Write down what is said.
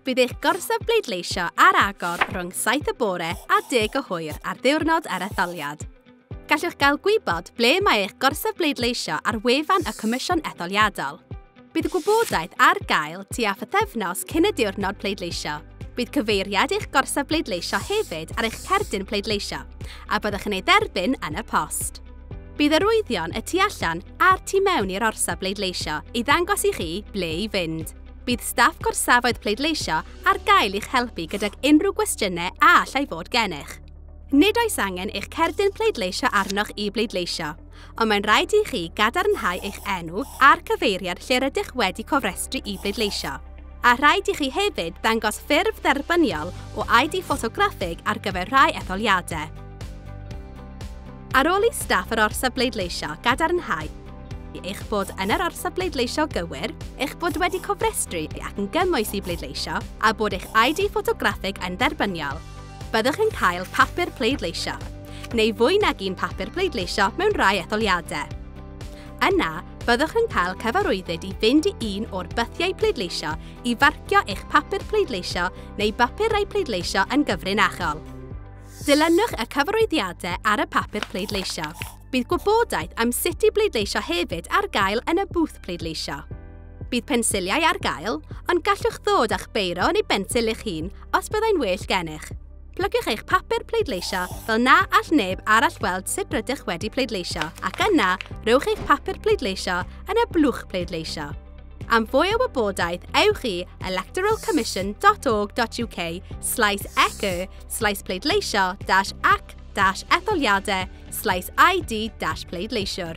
Bydd eich gorsaf bleidleisio ar agor rhwng 7 y bore a 10 o hwyr ar ddiwrnod ar etholiad. Gallwch gael gwybod ble mae eich gorsaf bleidleisio ar wefan y Comisiwn Etholiadol. Bydd y gwybodaeth ar gael tua phythefnos cyn y diwrnod pleidleisio. Bydd cyfeiriad i'ch gorsaf bleidleisio hefyd ar eich cerdyn pleidleisio, a byddwch yn ei dderbyn yn y post. Bydd arwyddion y tu allan a'r tu mewn i'r orsaf bleidleisio i ddangos i chi ble i fynd. Bydd staff gorsafoedd pleidleisio ar gael i'ch helpu gydag unrhyw gwestiynau a allai fod gennych. Nid oes angen eich cerdyn pleidleisio arnoch i bleidleisio. ond mae'n rhaid i chi gadarnhau eich enw a'r cyfeiriad lle rydych wedi cofrestru i bleidleisio. A rhaid i chi hefyd ddangos ffurf dderbyniol o ID ffotograffig ar gyfer rhai etholiadau. Ar ôl i staff yr orsaf bleidleisio gadarnhau eich bod yn yr orsaf bleidleisio gywir, eich bod wedi cofrestru ac yn gymwys i bleidleisio, a bod eich ID ffotograffig yn dderbyniol, Byddwch yn cael papur pleidleisio, neu fwy nag un papur pleidleisio mewn rhai etholiadau. Yna, byddwch yn cael cyfarwyddyd i fynd i un o'r bythiau pleidleisio i farcio eich papur pleidleisio neu bapurau pleidleisio yn gyfrinachol. Dilynwch y cyfarwyddiadau ar y papur pleidleisio. Bydd gwybodaeth am sut i bleidleisio hefyd ar gael yn y bwth pleidleisio. Bydd pensiliau ar gael, ond gallwch ddod â'ch beiro neu bensil eich hun os byddai'n well gennych. Plygiwch eich papur pleidleisio fel na all neb arall weld sut rydych wedi pleidleisio ac yna rhowch eich papur pleidleisio yn y blwch pleidleisio. Am fwy o wybodaeth, ewch i electoralcommission.org.uk slaes eco slaes pleidleisio dash ac dash etholiadau slaes ID dash pleidleisiwr.